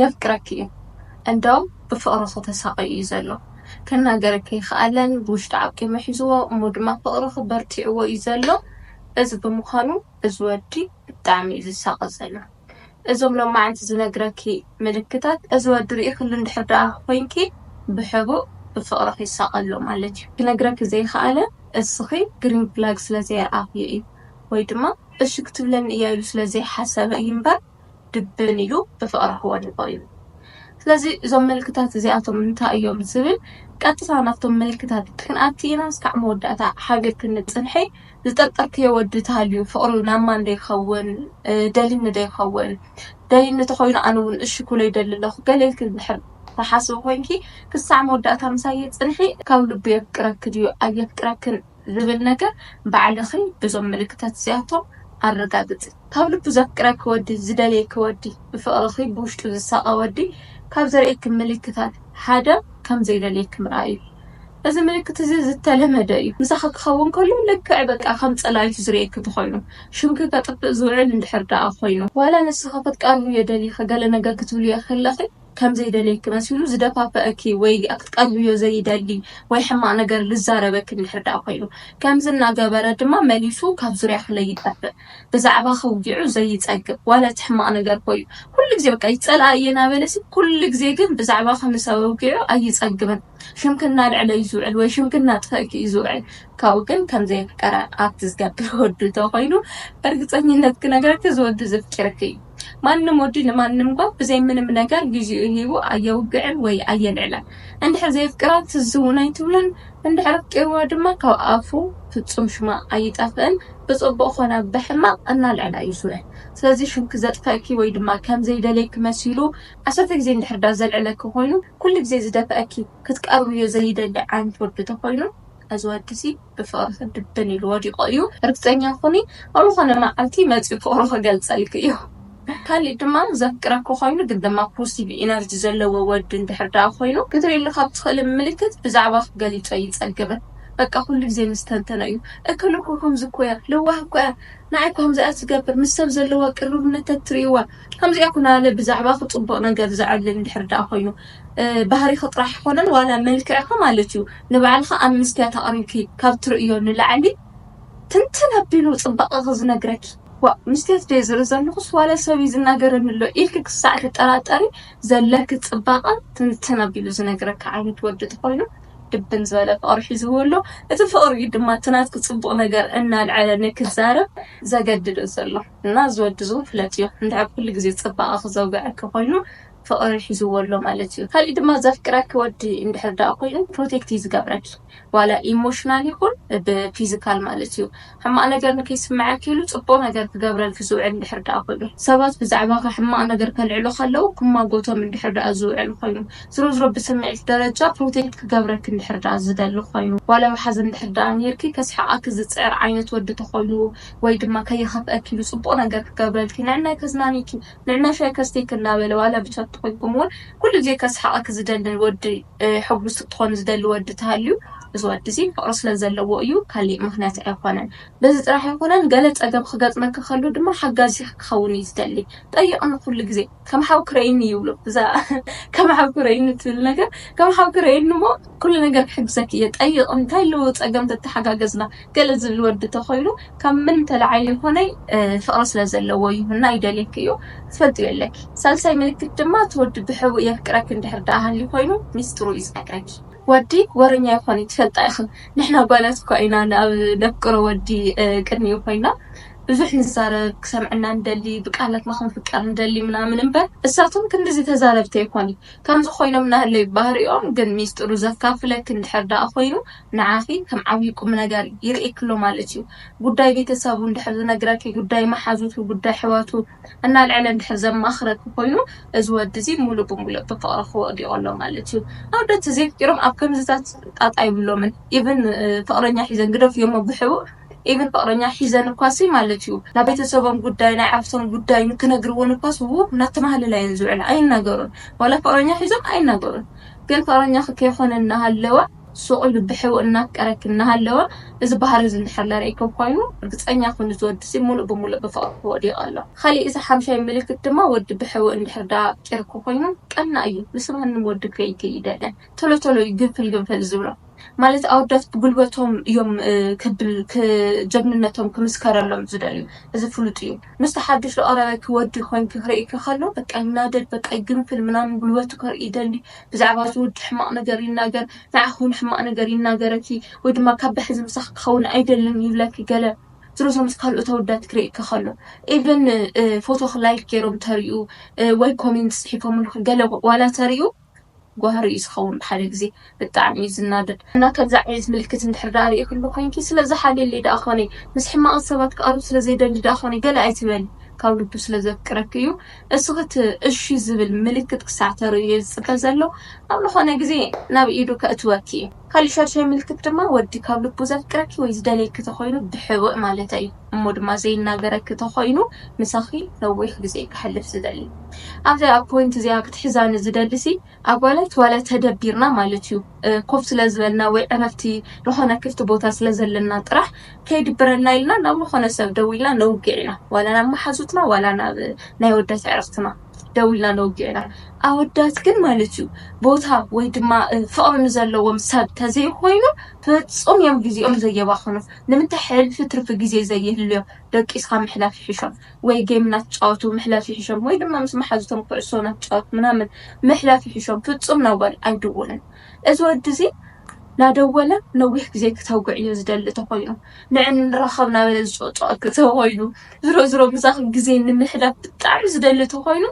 የፍቅረኪ እዩ እንደውም ብፍቅርኺ ተሳቅዩ እዩ ዘሎ ክናገረኪ ኣይክኣለን ብውሽጢ ዓቂሙ ሒዝዎ እሞ ድማ ፍቅርኺ በርቲዕዎ እዩ ዘሎ እዚ ብምዃኑ እዚ ወዲ ብጣዕሚ እዩ ዝሳቀ ዘሎ እዞም ሎማዓንቲ ዝነግረኪ ምልክታት እዚ ወዲ ሪኢክሉ እንድሕር ደኣ ኮይንኪ ብሕቡእ ብፍቅርኺ ይሳቀ ኣሎ ማለት እዩ ክነግረኪ ዘይክኣለ እስኺ ግሪን ፍላግ ስለ ዘየርኣኽዮ እዩ ወይ ድማ እሺ ክትብለኒ እያ ኢሉ ስለ ዘይሓሰበ እዩ እምበር ድብን ኢሉ ብፍቕራ ክወድቖ እዩ። ስለዚ እዞም ምልክታት እዚኣቶም እንታይ እዮም ዝብል ቀጥታ ናብቶም ምልክታት ክንኣቲ ኢናስ ካዕ መወዳእታ ሓቢር ክንጽንሒ ዝጠርጠርክዮ ወዲ ተሃልዩ ፍቕሩ ናብ ማን ዶ ይኸውን ደልኒ ዶ ይኸውን ደልኒ ተኾይኑ ኣነ ውን እሺ ኩሎ ይደሊ ኣለኹ ገለ ኢልኪ እንድሕር ትሓስቢ ኮይንኪ ክሳዕ መወዳእታ ምሳይ ጽንሒ ካብ ልቡ የፍቅረኪ ድዩ ኣየፍቅረክን ዝብል ነገር ባዕልኺ ብዞም ምልክታት እዚኣቶም ኣረጋግጺ። ካብ ልቡ ዘፍቅረኪ ወዲ፣ ዝደልየኪ ወዲ፣ ብፍቕርኺ ብውሽጡ ዝሳቐ ወዲ ካብ ዘርእየኪ ምልክታት ሓደ ከም ዘይደልየኪ ምርኣይ እዩ። እዚ ምልክት እዚ ዝተለመደ እዩ። ምሳኺ ክኸውን ከሎ ልክዕ በቃ ከም ጸላይቱ ዝርእየኪ እንተኾይኑ፣ ሽምኪ ከጥፍእ ዝውዕል እንድሕር ደኣ ኮይኑ፣ ዋላ ንስኺ ክትቀርብዮ ደሊኺ ገለ ነገር ክትብልዮ ከለኺ ከም ዘይደልየኪ መሲሉ ዝደፋፍኣኪ ወይ ክትቀርብዮ ዘይደሊ ወይ ሕማቕ ነገር ዝዛረበኪ እንድሕር ደኣ ኮይኑ፣ ከምዚ እናገበረ ድማ መሊሱ ካብ ዙርያኺ ለይጠፍእ። ብዛዕባኺ ኣውጊዑ ዘይጸግብ፣ ዋላ እቲ ሕማቕ ነገር ኮዩ። ኩሉ ግዜ በቃ ይጸልኣ እየ እናበለሲ፣ ኩሉ ግዜ ግን ብዛዕባኺ ምስ ኣወጊዑ ኣይጸግብን። ሽምኪ እናልዐለ እዩ ዝውዕል ወይ ሽምኪ እናጥፈእኪ እዩ ዝውዕል። ካብኡ ግን ከም ዘየፍቀረ ኣብቲ ዝገብር ወዱ እንተኾይኑ ብርግጸኝነት ክነግረኪ እዚ ወዱ ዘፍቂርኪ እዩ። ማንም ወዲ ንማንም ጓል ብዘይ ምንም ነገር ግዚኡ ሂቡ ኣየውግዕን ወይ ኣየልዕላን እንድሕር ዘየፍቅራ ትዝ ውን ኣይትብሎን እንድሕር ኣፍቂርዋ ድማ ካብ ኣፉ ፍጹም ሽማ ኣይጠፍእን ብጽቡቅ ኮነ ብሕማቅ እናልዕላ ዩ ዝውዕል ስለዚ ሽምኪ ዘጥፈእኪ ወይ ድማ ከም ዘይደልየኪ መሲሉ ዓሰርተ ግዜ እንድሕር ዳዘልዕለኪ ኮይኑ ኩሉ ግዜ ዝደፍእኪ ክትቀርብዮ ዘይደሊ ዓይነት ወዲ ተኮይኑ እዚ ወዲ'ዚ ብፍቕርኺ ድብን ኢሉ ወዲቑ እዩ፣ ርግጸኛ ኩኒ ኣብ ዝኾነ መዓልቲ መጺኡ ፍቕሩ ክገልጸልኪ እዩ። ካሊእ ድማ ዘፍቅረኪ ኮይኑ ግን ድማ ፖሲቭ ኢነርጂ ዘለዎ ወዲ እንድሕር ደኣ ኮይኑ ክትሪእሉ ካብ ትኽእሊ ምልክት ብዛዕባኺ ገሊጹ ኣይጸግብን በቃ ኩሉ ግዜ ምስ ተንተኖ እዩ እክሊ እኮ ከምዚ እኮ እያ ለዋህ እኮ እያ ንዓይ እኮ ከምዚ እያ ትገብር ምስ ሰብ ዘለዋ ቅርርብነት ተትሪእዋ ከምዚ እያ ኩናለ ብዛዕባኺ ጽቡቕ ነገር ዘዕልል እንድሕር ደኣ ኮይኑ ባህሪኺ ጥራሕ ኣይኮነን ዋላ መልክዕኺ ማለት እዩ ንባዕልኺ ኣብ መስትያት ኣቕሪብኪ ካብ ትርእይዮ ንላዕሊ ትንትን ኣቢሉ ጽባቐኺ ዝነግረኪ ዋእ መስትያት ድየ ዝርኢ ዘለኹስ ዋላ ሰብ እዩ ዝናገረኒ ኣሎ ኢልኪ ክሳዕ ትጠራጠሪ ዘለኪ ጽባቐ ትንትን ኣቢሉ ዝነግረኪ ዓይነት ወዲ ተኾይኑ ድብን ዝበለ ፍቕሪ ሒዝዎ ኣሎ እቲ ፍቕሪ እዩ ድማ እቲ ናትኪ ጽቡቕ ነገር እናልዐለ ንክትዛረብ ዘገድዶ ዘሎ እና እዚ ወዲ እዚ እውን ፍለጥዮ እንድሕር ኩሉ ግዜ ጽባቐኺ ዘውግዐኪ ኮይኑ ፍቅሪ ሒዝዎ ኣሎ ማለት እዩ ካሊእ ድማ ዘፍቅረኪ ወዲ እንድሕር ደኣ ኮይኑ ፕሮቴክት እዩ ዝገብረኪ ዋላ ኢሞሽናል ይኩን ብ ፊዝካል ማለት እዩ ሕማቅ ነገር ንከይስመዐኪ ኢሉ ፅቡቅ ነገር ክገብረልኪ ዝውዕል እንድሕር ደኣ ኮይኑ ሰባት ብዛዕባካ ሕማቅ ነገር ከልዕሉ ከለው ክማጎቶም እንድሕር ደኣ ዝውዕል ኮይኑ ዝሮ ዝሮ ብስሚዒት ደረጃ ፕሮቴክት ክገብረኪ እንድሕር ደኣ ዝደሊ ኮይኑ ዋላ ብ ሓዘን እንድሕር ደኣ ነይርኪ ከስሕቀኪ ዝፅዕር ዓይነት ወዲ ተኮይኑ ወይ ድማ ከይከፍእኪ ኢሉ ፅቡቅ ነገር ክገብረልኪ ንዕናይ ከዝናንይኪ ንዕና ሻይ ከስትይኪ እናበለ ዋላ ብቻት ተኾይንኩም ውን ኩሉ ግዜ ከስሕቐኪ ዝደሊ ወዲ ሕጉስቲ ክትኾኒ ዝደሊ ወዲ ተሃልዩ እዚ ወዲ እዚ ፍቕሪ ስለ ዘለዎ እዩ ካሊእ ምኽንያት ኣይኾነን በዚ ጥራሕ ኣይኮነን ገለ ፀገም ኽገጥመኪ ከሎ ድማ ሓጋዚኺ ክኸውን እዩ ዝደሊ ጠይቕኒ ኩሉ ግዜ ከም ሓውኪ ረእይኒ ይብሎ እዛ ከም ሓውኪ ረእይኒ ትብል ነገር ከም ሓውኪ ረእይኒ እሞ ኩሉ ነገር ክሕግዘኪ እየ ጠይቕኒ እንታይ ኣለዎ ፀገም ተተሓጋገዝና ገለ ዝብል ወዲ ተኮይኑ ካብ ምን ተላዒሉ ይኮነ ፍቅሪ ስለ ዘለዎ ይሁና ይደልየኪ እዩ ክትፈልጥዮ ኣለኪ ሳልሳይ ምልክት ድማ እቲ ወዲ ብሕቡእ የፍቅረኪ እንድሕር ዳኣ ሃልዩ ኮይኑ ሚስጥሩ እዩ ዝነግረኪ ወዲ ወረኛ ኣይኮን እዩ ትፈልጣ ኢኪ ንሕና ጓላት እኳ ኢና ንኣብ ነፍቅሮ ወዲ ቅድሚኡ ኮይና ብዙሕ ንዛረብ ክሰምዐና ንደሊ ብቃላትና ክንፍቀር ንደሊ ምናምን እንበር እሳቶም ክንድዚ ተዛረብቲ ኣይኮን እዩ ከምዚ ኮይኖም ናሃለዩ ባህሪኦም ግን ሚስጥሩ ዘካፍለኪ እንድሕር ዳኣ ኮይኑ ንዓኺ ከም ዓብዪ ቁምነገር ይርእየኪ ኣሎ ማለት እዩ። ጉዳይ ቤተሰቡ እንድሕር ዝነግረኪ፣ ጉዳይ መሓዙቱ፣ ጉዳይ ኣሕዋቱ እናልዐለ እንድሕር ዘማኽረኪ ኮይኑ፣ እዚ ወዲ እዚ ሙሉእ ብሙሉእ ብፍቕርኺ ወዲቑ ኣሎ ማለት እዩ። ኣወዳት ተዘይፍቂሮም ኣብ ከምዚታት ጣጣ የብሎምን። even ፍቕረኛ ሒዘን ግደፍዮሞ ብሕቡእ even ፍቕረኛ ሒዘን እኳሲ ማለት እዩ ናብ ቤተሰቦም ጉዳይ ናይ ኣዕርኽቶም ጉዳይ ንክነግርወን እኳስ ውው እናተማህለላ እየን ዝውዕላ ኣይናገሩን ዋላ ፍቕረኛ ሒዞም ኣይናገሩን ግን ፍቕረኛኺ ከይኾነ እናሃለወ ሱቕ ኢሉ ብሕቡእ እናፍቀረኪ እናሃለወ እዚ ባህሪ እዚ እንድሕር ለርኢክዎ ኮይኑ ርግጸኛ ኩኒ እዚ ወዲ'ዚ ምሉእ ብምሉእ ብፍቕርኪ ወዲቑ ኣሎ። ካሊእ እዚ ሓምሻይ ምልክት ድማ ወዲ ብሕቡእ እንድሕር ደኣ ኣፍቂርኪ ኮይኑ ቀናእ እዩ ምስ ማንም ወዲ ክርእይኪ እይደልን ቶሎ ቶሎ እዩ ግንፍል ግንፍል ዝብሎ ማለት ኣወዳት ብጉልበቶም እዮም ክብል ጀግንነቶም ክምስከረሎም ዝደልዩ እዚ ፍሉጥ እዩ ምስቲ ሓዱሽ ዝቐረበኪ ወዲ ኮይንኪ ክርእይኪ ከሎ በቃ ይናደድ በቃ ይግንፍል ምናምን ጉልበቱ ከርኢ ይደሊ ብዛዕባ እዚ ወዲ ሕማቕ ነገር ይናገር፣ ንዓኺ እውን ሕማቕ ነገር ይናገረኪ፣ ወይ ድማ ካብ ብሕዚ ምሳኺ ክኸውን ኣይደልን ይብለኪ ገለ ዝሮዝሮ ምስ ካልኦት ኣወዳት ክርእየኪ ከሎ ኢቭን ፎቶኺ ላይክ ገይሮም ተርእዩ ወይ ኮሜንት ጽሒፎምልኪ ገለ ዋላ ተርእዩ ጓህሪ እዩ ዝኸውን ብሓደ ግዜ ብጣዕሚ እዩ ዝናደድ እና ከምዚ ዓይነት ምልክት እንድሕር ደኣ ርኢክሉ ኮይንኪ ስለ ዝሓልየለይ ደኣ ኮነ ምስ ሕማቕት ሰባት ክቐርብ ስለ ዘይደሊ ደኣ ኮነ ገለ ኣይትበሊ ካብ ልቡ ስለ ዘፍቅረኪ እዩ እሱ እቲ እሺ ዝብል ምልክት ክሳዕ ተርእዩ እዩ ዝጽበ ዘሎ። ኣብ ልኾነ ግዜ ናብ ኢዱ ከእትወኪ እዩ። ካሊእ ሻድሻይ ምልክት ድማ ወዲ ካብ ልቡ ዘፍቅረኪ ወይ ዝደልየኪ ተኾይኑ ብሕቡእ ማለተይ እዩ እሞ ድማ ዘይናገረኪ ተኾይኑ ምሳኺ ነዊሕ ግዜ ከሕልፍ ዝደሊ። ኣብዚኣ ፖይንት እዚኣ ክትሕዛኒ ዝደሊሲ ኣጓላት ዋላ ተደቢርና ማለት እዩ ኮፍ ስለ ዝበልና ወይ ዕረፍቲ ዝኾነ ክፍቲ ቦታ ስለ ዘለና ጥራሕ ከይድብረና ኢልና ናብ ዝኾነ ሰብ ደው ኢልና ነውግዕ ኢና ዋላ ናብ መሓዙትና ዋላ ናብ ናይ ወዳት ኣዕርኽትና ደው ኢልና ነውግዕ ኢና ኣወዳት ግን ማለት እዩ ቦታ ወይ ድማ ፍቕሪ ንዘለዎም ሰብ ተዘይኮይኑ ፍጹም እዮም ግዜኦም ዘየባኽኑ ንምንታይ ሕልፊ ትርፊ ግዜ ዘይህልዮም ደቂስካ ምሕላፍ ይሕሾም ወይ ጌም እናተጫወቱ ምሕላፍ ይሕሾም ወይ ድማ ምስ መሓዙቶም ኩዕሶ እናተጫወቱ ምናምን ምሕላፍ ይሕሾም ፍጹም ናብ ጓል ኣይድውልን እዚ ወዲ እዚ ናደወለ ነዊሕ ግዜ ክተጉዕ እዮ ዝደሊ ተኾይኑ ንዕ ንራኸብ ናበለ ዝጾዕጾዕ ተኾይኑ ዝሮዝሮ ምሳኺ ግዜ ንምሕላፍ ብጣዕሚ ዝደሊ ተኾይኑ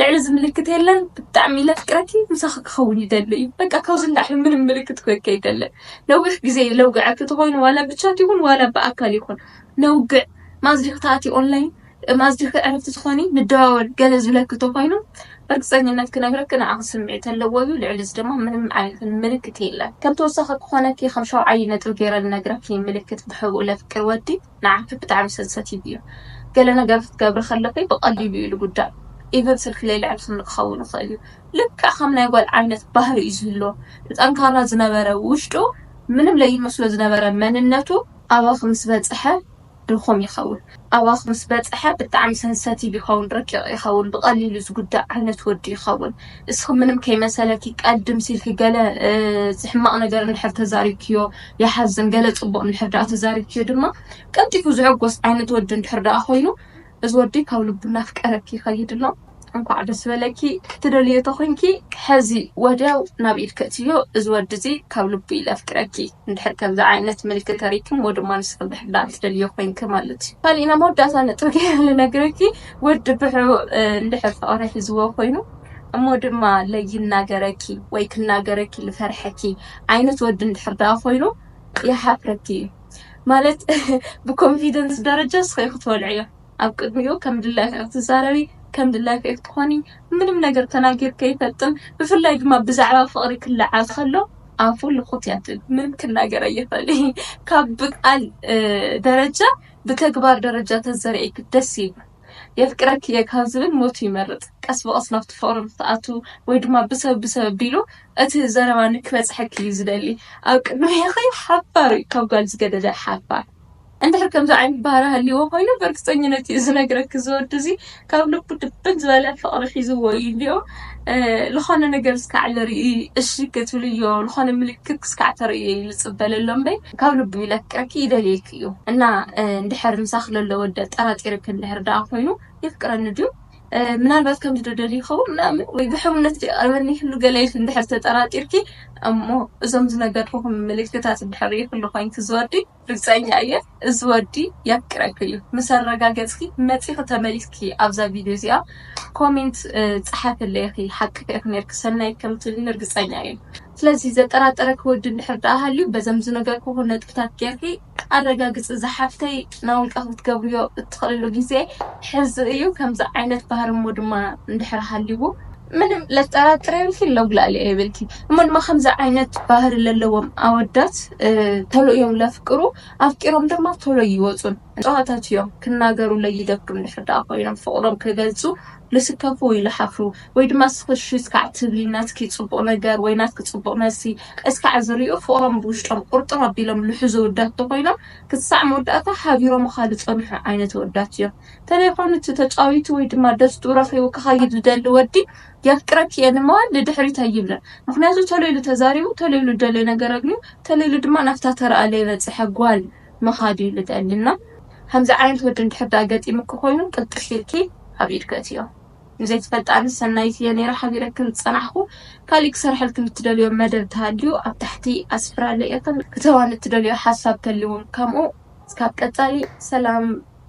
ልዕሊ እዚ ምልክት የለን ብጣዕሚ ለፍቅረኪ ምሳኺ ክኸውን ይደሊ እዩ በቃ ካብዚ ንላዕሊ ምንም ምልክት ክህበኪ ኣይደልን ነዊሕ ግዜ እዩ ለውግዐኪ ተኾይኑ ዋላ ብቻት ይኹን ዋላ ብኣካል ይኹን ነውግዕ ማስ ዲኺ ትኣትዪ ኦንላይን ማስ ዲኺ ዕርፍቲ ትኾኒ ንደዋወል ገለ ዝብለኪ ተኾይኑ በርግፀኝነት ክነግረኪ ንዓኺ ስምዒት ኣለዎ እዩ ልዕሊ እዚ ድማ ምንም ዓይነት ምልክት የለን ከም ተወሳኺ ክኾነኪ ከም ሻውዓይ ነጥቢ ገይረ ልነግረኪ ምልክት ብሕቡእ ለፍቅር ወዲ ንዓኺ ብጣዕሚ ሰንሰቲቭ እዩ ገለ ነገር ክትገብሪ ከለኺ ብቐሊሉ እዩ ልጉዳእ ኢቭን ስልኪ ለይልዕልክኒ ክኸውን ይኽእል እዩ ልክዕ ከም ናይ ጓል ዓይነት ባህሪ እዩ ዝህልዎ እቲ ጠንካራ ዝነበረ ውሽጡ ምንም ለይመስሎ ዝነበረ መንነቱ ኣባኺ ምስ በጽሐ ድኹም ይኸውን ኣባኺ ምስ በጽሐ ብጣዕሚ ሰንሰቲቭ ይኸውን ረቂቕ ይኸውን ብቐሊሉ ዝጉዳእ ዓይነት ወዲ ይኸውን እስኺ ምንም ከይመሰለኪ ቀድም ሲልኪ ገለ ዝሕማቕ ነገር እንድሕር ተዛሪብክዮ ይሓዝን ገለ ጽቡቕ እንድሕር ደኣ ተዛሪብኪዮ ድማ ቀልጢፉ ዝሕጎስ ዓይነት ወዲ እንድሕር ደኣ ኮይኑ እዚ ወዲ ካብ ልቡ እናፍቀረኪ ይኸይድ ኣሎ እንኳዕ ደስ በለኪ ክትደልዮ ተኾይንኪ ሕዚ ወድያው ናብ ኢድ ከእትዮ እዚ ወዲ እዚ ካብ ልቡ እዩ ለፍቅረኪ እንድሕር ከምዚ ዓይነት ምልኪ ተሪኪ እሞ ድማ ንስኺ እንድሕር ደኣ ትደልዮ ኮይንኪ ማለት እዩ ካሊእ ናይ መወዳእታ ነጥቢ ገይረ ልነግረኪ ወዲ ብሑ እንድሕር ፍቕሪ ሒዝዎ ኮይኑ እሞ ድማ ለይናገረኪ ወይ ክናገረኪ ልፈርሐኪ ዓይነት ወዲ እንድሕር ደኣ ኮይኑ ይሓፍረኪ እዩ ማለት ብኮንፊደንስ ደረጃ እስኺ ኢኺ ትወልዕዮ ኣብ ቅድሚኡ ከም ድላይኺ ኢኺ ትዛረቢ ከም ድላይኺ ኢኺ ትኾኒ ምንም ነገር ተናጊሩ ከይፈልጥን ብፍላይ ድማ ብዛዕባ ፍቕሪ ክለዓል ከሎ ኣፉ ልኹት እያ ትብል ምንም ክናገር ኣይኽእልን ካብ ብቃል ደረጃ ብተግባር ደረጃ ተዘርእኪ ደስ ይብል። የፍቅረኪ'የ ካብ ዝብል ሞቱ ይመርጽ። ቀስ ብቐስ ናብቲ ፍቕሪ ንኽትኣትው ወይ ድማ ብሰብ ብሰብ ኣቢሉ እቲ ዘረባ ንክበጽሐኪ እዩ ዝደሊ። ኣብ ቅድሜኺ ሓባር እዩ ካብ ጓል ዝገደደ ሓባር። እንድሕር ከምዚ ዓይነት ባህሪ ሃልይዎ ኮይኑ ብርግጸኝነት እዩ ዝነግረኪ እዚ ወዲ እዚ ካብ ልቡ ድብን ዝበለ ፍቕሪ ሒዝዎ እዩ እንድዮ። ዝኾነ ነገር እስካዕ ልርኢ እሺ ክትብልዮ ዝኾነ ምልክት ክስካዕ ተርእዮ እዩ ልጽበ ለሎ እምበይ ካብ ልቡ እዩ ለፍቅረኪ ይደልየኪ። እዩ። እና እንድሕር ምሳኺ ለሎ ወዲ ኣጠራጢርኪ እንድሕር ደኣ ኮይኑ የፍቅረኒ ድዩ ምናልባት ከምዚ ዶ ደልዩ ይኸውን ምናምን ወይ ብሕውነት ዶ ይቐርበኒ ይህሉ ገለ ኢልኪ እንድሕር ተጠራጢርኪ እሞ እዞም ዝነገርኩኹም ምልክታት እንድሕር ርኢኽሉ ኮይንኪ እዚ ወዲ ርግጸኛ እየ እዚ ወዲ የፍቅረኪ እዩ ምስ ኣረጋገጽኪ መጺኺ ተመሊስኪ ኣብዛ ቪድዮ እዚኣ ኮሜንት ጸሓፍለይ ኢኺ ሓቅኺ ኢኺ ኔርኪ ሰናይት ከም ትብልኒ ርግጸኛ እየ ስለዚ ዘጠራጠረኪ ወዲ እንድሕር ደኣ ሃልዩ በዘም ዝነገርኩኺ ነጥብታት ጌርኪ ኣረጋግጺ ዝሓፍተይ ናብ ውልቀኺ ክትገብርዮ እትኽእልሉ ግዜ ሕዚ እዩ ከምዚ ዓይነት ባህሪ እሞ ድማ እንድሕር ሃልይዎ ምንም ለጠራጥር የብልኪን ለጉላሊ የብልኪን እሞ ድማ ከምዚ ዓይነት ባህሪ ለለዎም ኣወዳት ተሎ እዮም ለፍቅሩ ኣፍቂሮም ድማ ተሎ ይወጹን ጨዋታት እዮም ክናገሩ ለይደብሩ እንድሕር ደኣ ኮይኖም ፍቕሮም ክገልጹ ልስከፉ ወይ ልሓፍሩ ወይ ድማ እስኺ እሺ እስካዕ ትብሊ ናትኪ ፅቡቅ ነገር ወይ ናትኪ ፅቡቅ መልሲ እስካዕ ዝሪኡ ፍቅሮም ብውሽጦም ቁርጥር ኣቢሎም ልሕዙ ኣወዳት ተኾይኖም ክሳዕ መወዳእታ ሓቢሮምኻ ልፀንሑ ዓይነት ኣወዳት እዮም ተደይኾኑ እቲ ተጫዊቱ ወይ ድማ ደስትኡ ረኺቡ ክኸይድ ልደሊ ወዲ የፍቅረኪ እየ ንምባል ልድሕሪት ኣይብልን ምኽንያቱ ተለይሉ ተዛሪቡ ተለይሉ ልደልዮ ነገር ኣግንዩ ተለይሉ ድማ ናፍታ ተረኣ ለይበፀሐ ጓል ምኻድ እዩ ልደሊ እና ከምዚ ዓይነት ወዲ እንድሕር ድኣ ገጢሙኪ ኮይኑ ቅልጥፍ ኢልኪ ኣብ ኢድኪ እትዮ ንዘይትፈልጣ ኣነስ ሰናይት እየ ነይረ ሓቢረክን ዝጸናሕኩ ካሊእ ክሰርሐልክን እትደልዮ መደብ ተሃልዩ ኣብ ታሕቲ ኣስፍራለይ እክን ክተዋን እትደልዮ ሓሳብ ተልዩ ውን ከምኡ እስካብ ቀጻሊ ሰላም።